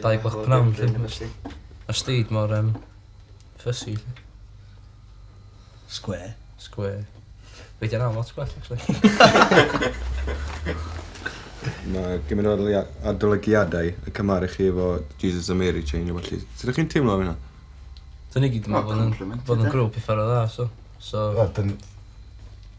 Dau gwch pnawn lly. Mae'r steed mor um, fussy lly. Square. Square. Fe di yna lot gwell actually. Mae gymryd o adolygiadau y cymharu chi efo Jesus a Mary Chain o felly. Sut ydych chi'n teimlo am hynna? Dyn ni gyd yn meddwl bod yn grŵp i ffordd dda, so... so... Wel, dyn...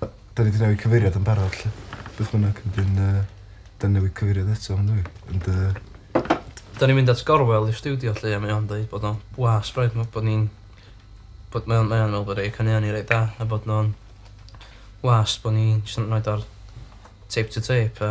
'Da ni 'di newid cyfeiriad yn barod 'lly. Beth bynnag wedyn yy 'da ni newid cyfeiriad eto on'd yw i? Ond yy... 'Da ni'n mynd at Gorwel i'r stiwdio 'lly a mae o'n deud bod o'n blas braidd ma' bod ni'n bod mae o'n mae o'n me'wl bod ei caneuon ni reit da a bod nhw'n blas bo' ni jyst yn roid o ar tape to tape a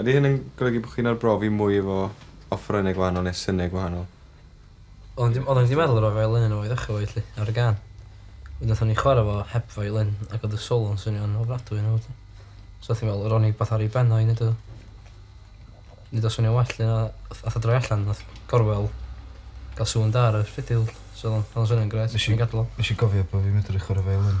Ydy hyn yn golygu bod chi'n arbrofi mwy efo offerynnau gwahanol neu synau gwahanol? Wel, o'n i 'di meddwl ar y violin yna i ddechrau efo hi 'lly, ar y gân. Wedyn nathon ni chwarae fo heb violin ac o'dd y solo'n swnio'n ofnadwy ynddo fo 'lly. So o'ch chi'n meddwl, ro'n i wbath ar ei ben o i neud o neud o swnio'n well 'lly. Nath o droi allan, nath Gorwel ga'l sŵn da ar y ffidil so o'dd o'n swnio'n grêt, so nes i gadal o. Nes i gofio bo' fi'n medru chwarae violin.